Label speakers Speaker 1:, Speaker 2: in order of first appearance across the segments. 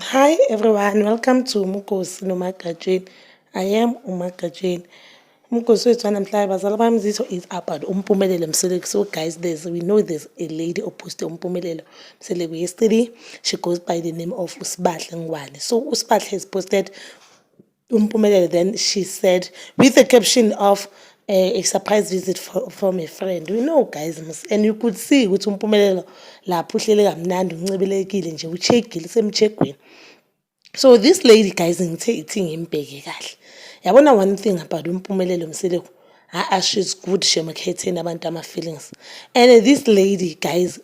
Speaker 1: Hi everyone, welcome to Mukosi Nomagatsheni. I am Umagatsheni. Umgosi wethu wanamhlanje bazala bami zitho is about umpumelelo mseleku so guys there's we know there's a lady ophoste umpumelelo mseleku yesterday she goes by the name of usibahle ngwane so usibahle has posted Umpumelele then she said with a caption of uh, a surprise visit for, from a friend we know guys mus and you could see ukuthi umpumelelo lapho uhlele kamnandi uncebelekile nje uchegile usemchegweni so this lady guys ngithe ithi ngimbheke kahle yabona one thing about umpumelelo mseleku haa she's good shemkhetheni abantu ama-feelings and this lady guys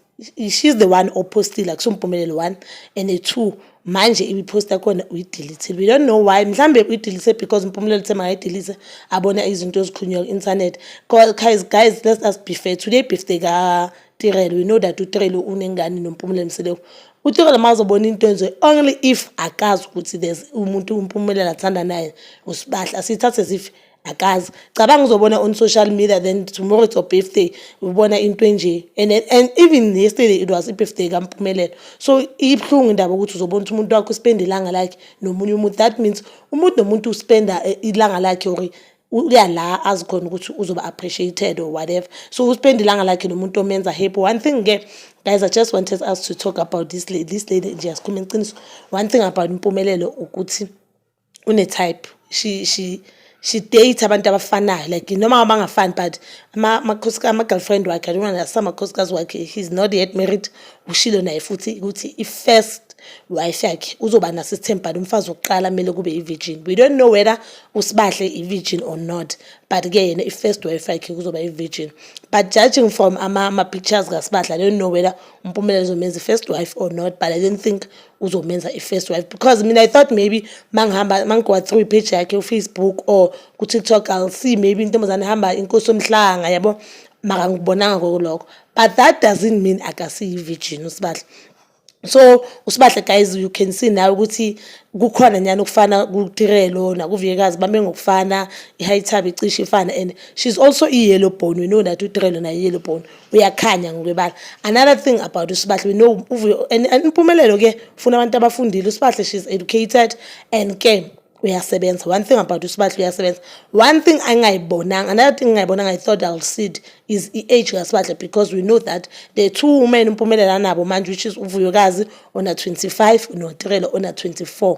Speaker 1: she's the one opostile akusoMpumelelo one and a two manje ibiposta khona uyidelethile we don't know why mhlawumbe uyidelise because Mpumelelo uthe makayidelise abona izinto ezikhulunywa ku-internet guys guys let us be fair today birthday katirelo we know that utirelo unengane noMpumelelo Mseleku utirelo uma uzobona into enje only if akazi ukuthi there's umuntu uMpumelelo athanda naye usibahla sithathe as if akazi cabanga uzobona on social media then tomorrow it's your birthday ubona into enje and, and even yesterday it was i-birthday kampumelelo so ibuhlungu indaba ukuthi uzobona ukuthi umuntu wakho uspenda ilanga lakhe nomunye umuntu that means umuntu nomuntu uspenda eh, ilanga lakhe or uya la azi khona ukuthi uzoba appreciated or whatever so uspenda ilanga lakhe nomuntu omenza happy one thing ke guys i just wanted us to talk about this lady this lady nje yasikhuluma iqiniso one thing about impumelelo ukuthi une type she she she date abantu abafanayo like noma abangafani but ama-girlfriend wakhe i don't want asamakhosikazi wakhe he's not yet married ushilo naye futhi ukuthi i-first wife yakhe uzoba naso isithembhani umfazi wokuqala kumele kube i-virgin we don't know whether usibahle i-virgin or not but-ke yena i-first wife yakhe kuzoba i-virgin but judging from ama-pictures ama kasibadla i don't know whether umpumelelo uzomenza i-first wife or not but i don't think uzomenza i-first wife because mina i thought maybe mangihamba mangigowa through ipage yakhe ufacebook or kutiktok i'll see maybe intombazane ihamba inkosi omhlanga yabo maka ngikubonanga kokulokho but that doesn't mean akasiyi-virgin usibahle so usibahle guys you can see nawe ukuthi kukhona nyani ukufana kutirelo nakuviyekazi bame ngokufana i-high tab icishe ifana and she's also i-yellow bone we know that utirelo naye i-yellow bone uyakhanya ngokwebala another thing about usibahle we know uvuyo and impumelelo ke funa abantu abafundile usibahle she's educated and ke uyasebenza one thing about usibahle uyasebenza one thing angayibonanga another thing ngayibonanga i thought i'll see it is i-age kasibahle because we know that the two women umpumelelo anabo manje which is uvuyokazi ona-25 notirelo ona-24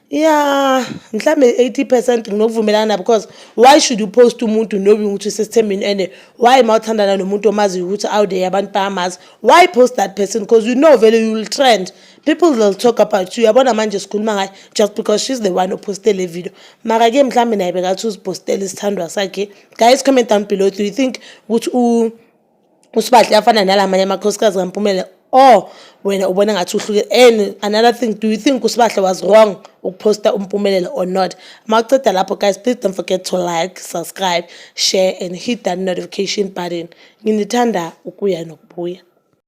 Speaker 1: ya mhlawumbe 80 percent nginokuvumelana because why should you post umuntu knowing ukuthi usesithembeni and why ma uthandana nomuntu omaziyo ukuthi out there abantu bayamazi why post that person because you know vele you'll trend people will talk about you yabona manje sikhuluma ngayo just because she's the one oposte le video maka-ke mhlawumbe naye bekathi uzipostele isithandwa sakhe guys comment down below do you think ukuthi usibahle yafana nalamanye amakhosikazi kampumela or wena ubona ngathi uhluke and another thing do you think usibahle was wrong ukuposta umpumelelo or not mawuceda lapho guys please don't forget to like subscribe share and hit that notification button nginithanda ukuya nokubuya